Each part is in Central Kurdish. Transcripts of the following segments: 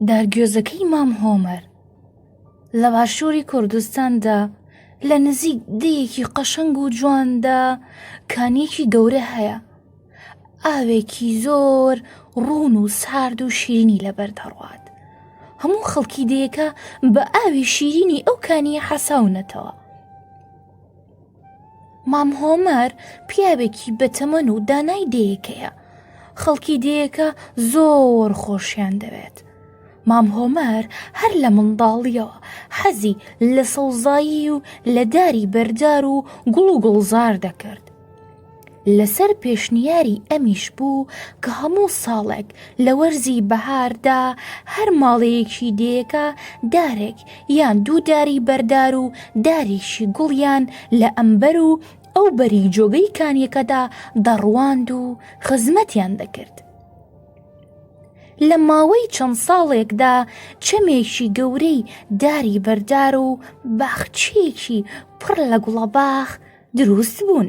دارگوێزەکەی مام هۆمەر لە باشووری کوردستاندا لە نزیک دەیەکی قەشەنگ و جواندا کانیەکی گەورە هەیە ئاوێکی زۆر ڕوون و سارد و شیرینی لەبەر دەڕوات هەموو خەڵکی دەیەکە بە ئاوی شیرینی ئەو کانیە حەساونەتەوە مام هۆمەر پیاوێکی بەتەمەن و دانای دێیەکەیە خەڵکی دێیەکە زۆر خۆشیان دەوێت مام هۆمەر هەر لە منداڵیەوە حەزی لە سەوزایی و لە داری بەردار و گوڵ و گوڵزار دەکرد لەسەر پێشنیاری ئەمیش بوو کە هەموو ساڵێک لە وەرزی بەهاردا هەر ماڵەیەکی دێیەکە دارێک یان دوو داری بەردار و دارێکی گوڵیان لە ئەمبەر و ئەو بەری جۆگەی کانیەکەدا دەڕواند و خزمەتیان دەکرد. لە ماوەی چەند ساڵێکدا چەمێکی گەورەی داری بەردار و باخچێکی پڕ لە گوڵەباخ دروست بوون.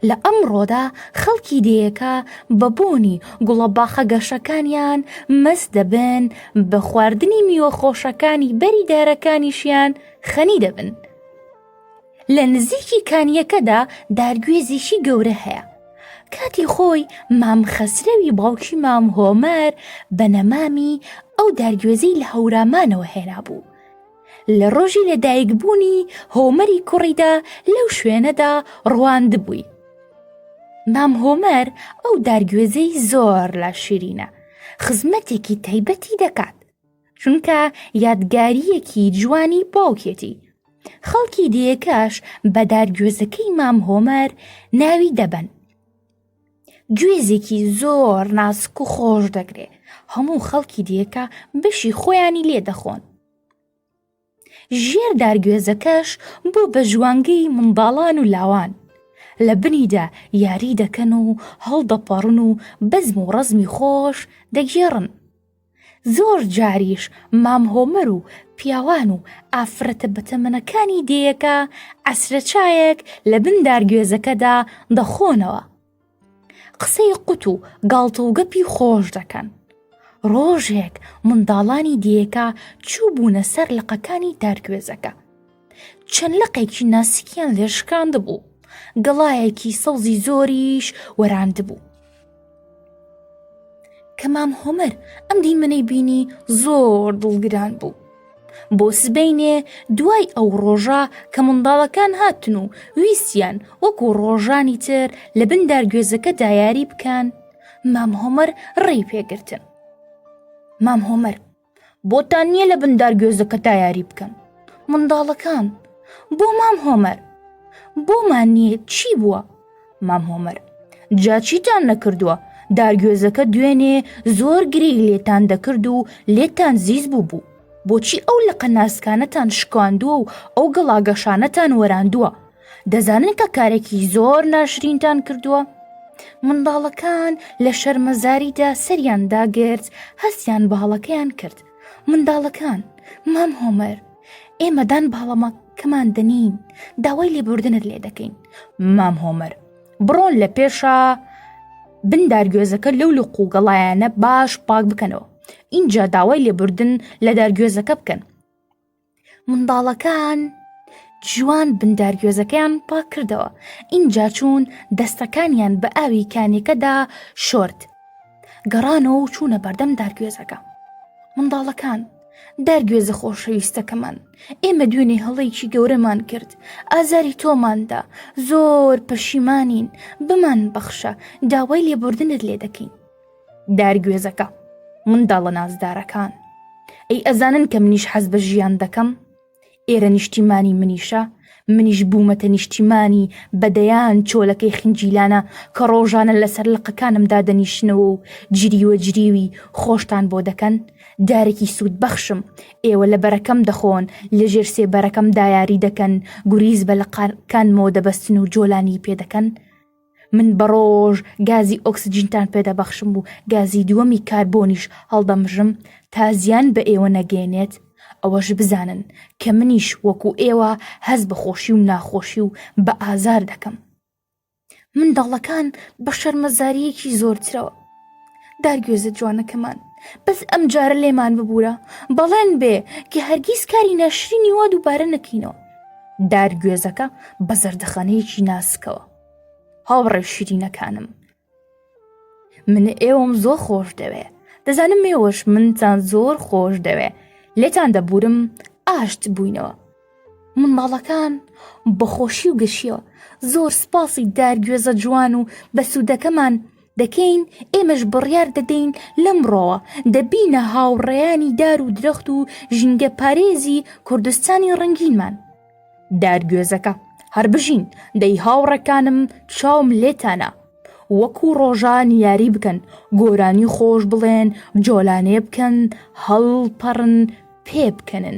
لە ئەمڕۆدا خەڵکی دێیەکە بە بۆنی گوڵە باخە گەشەکانیان مەس دەبن بە خواردنی میوە خۆشەکانی بەری دارەکانیشیان خەنی دەبن. لە نزیکی کانیەکەدا دارگوێزیشی گەورە هەیە. کاتی خۆی مام خەسرەوی باوکی مام هۆمەر بە نەمامی ئەو دارگوێزی لە هەورامانەوە هێنا بوو. لە ڕۆژی لەدایکبوونی هۆمەری کوڕیدا لەو شوێنەدا ڕواندبووی مام هۆمەر ئەو دارگوێزەی زۆر لە شیرینە خزمەتێکی تایبەتی دەکات چونکە یادگاریەکی جوانی باوکێتی خەڵکی دێکەش بە دارگوێزەکەی مام هۆمەر ناوی دەبەن گوێزێکی زۆر ناسک و خۆش دەگرێ هەموو خەڵکی دیەکە بەشی خۆیانی لێ دەخۆن ژێر دارگوێزەکەش بۆ بە ژوانگەی منداڵان و لاوان لە بنیدا یاری دەکەن و هەڵدەپەڕن و بەزم و ڕزمی خۆش دەگێڕن زۆر جاریش مام هۆمەر و پیاوان و ئافرەتە بەتەمەنەکانی دێیەکە عەسرە چایەک لە بن دارگوێزەکەدا دەخۆنەوە قسەی قوت و گاڵتە و گەپی خۆش دەکەن ڕۆژێک منداڵانی دێیەکە چوو بوونە سەر لقەکانی دارگوێزەکە چەند لقێکی ناسکیان لێشکاند بوو گەڵایەکی سەوزی زۆریش وەراند بوو کەمام هۆمەر ئەم دیمەنەی بینی زۆر دڵگران بوو بۆ سبینێ دوای ئەو ڕۆژە کە منداڵەکان هاتن و ویستیان وەکو ڕۆژانی تر لە بن دارگوێزەکە دایاری بکەن مام هۆمەر ڕێی پێگرتن مام هۆمەر بۆتان نییە لە بندار گوێزەکە تا یاری بکەن منداڵەکان بۆ مام هۆمەر بۆمان نییە چی بووە مام هۆمەر جاچیتان نەکردووە دارگوێزەکە دوێنێ زۆر گری لێتان دەکرد و لێتان زیز بوو بوو بۆچی ئەو لە قەناسکانەتان شکاندووە و ئەو گەڵاگەشانەتان وەراندووە دەزانن کە کارێکی زۆر ناشرینتان کردووە منداڵەکان لە شەرمەزاریدا سەریان داگرت هەستیان باڵەکەیان کرد منداڵەکان مام هۆمەر ئێمەدان باڵەمە کەمان دەنین داوای لێبوردنت لێ دەکەین مام هۆمەر بڕۆن لە پێشە بندارگوێزەکە لەو لە قوگەڵایەنە باش پاک بکەنەوە اینجا داوای لێبوردن لە دارگوێزەکە بکەن منداڵەکان جوان بندارگوێزەکەیان پاک کردەوە ئینجا چوون دەستەکانیان بە ئاوی کانیەکەدا شۆرد گەڕانەوە و چوونە بەردەم دارگوێزەکە منداڵەکان دارگوێزە خۆشەویستەکەمان ئێمە دوێنێ هەڵەیەکی گەورەمان کرد ئازاری تۆماندا زۆر پەشیمانین بمان بەخشە داوای لێبوردنت لێ دەکەین دارگوێزەکە منداڵە نازدارەکان ئەی ئەزانن کە منیش حەز بە ژیان دەکەم ئێرە نیشتیمانی منیشە منیش بوومەتە نیشتیمانی بەدەیان چۆلەکەی خنجیلانە کە ڕۆژانە لەسەر لقەکانم دادەنیشنەوە و جریوە جریوی خۆشتان بۆ دەکەن دارێکی سوود بەخشم ئێوە لە بەرەکەم دەخۆن لە ژێر سێ بەرەکەم دایاری دەکەن گوریز بە لەقانکانمەوە دەبەستن و جۆلانی پێ دەکەن من بە ڕۆژ گازی ئۆکسجینتان پێدەبەخشم و گازی دووەمی کاربۆنیش هەڵدەمژم تا زیان بە ئێوە نەگەێنێت ئەوەش بزانن کە منیش وەکو ئێوە هەست بە خۆشی و ناخۆشی و بە ئازار دەکەم منداڵەکان بە شەرمەزاریەکی زۆرترەوە دارگوێزە جوانەکەمان بەس ئەم جارە لێمان ببوورە بەڵێن بێ کە هەرگیز کاری ناشرینی وا دووبارە نەکەینەوە دارگوێزەکە بە زەردەخانەیەکی ناسکەوە هاوڕێ شیرینەکانم من ئێوەم زۆر خۆش دەوێ دەزانم مێوەش منتان زۆر خۆش دەوێ لێتان دەبورم ئاشت بووینەوە منداڵەکان بە خۆشی و گەشیەوە زۆر سپاسی دارگوێزە جوان و بەسوودەکەمان دەکەین ئێمەش بڕیار دەدەین لەمڕۆوە دەبینە هاوڕێیانی دار و درەخت و ژینگە پارێزی کوردستانی ڕنگینمان دارگوێزەکە هەر بژین دەی هاوڕەکانم چاوم لێتانە وەکو ڕۆژان یاری بکەن گۆرانی خۆش بڵێن جۆلانێ بکەن هەڵپەڕن پێ بکەنن.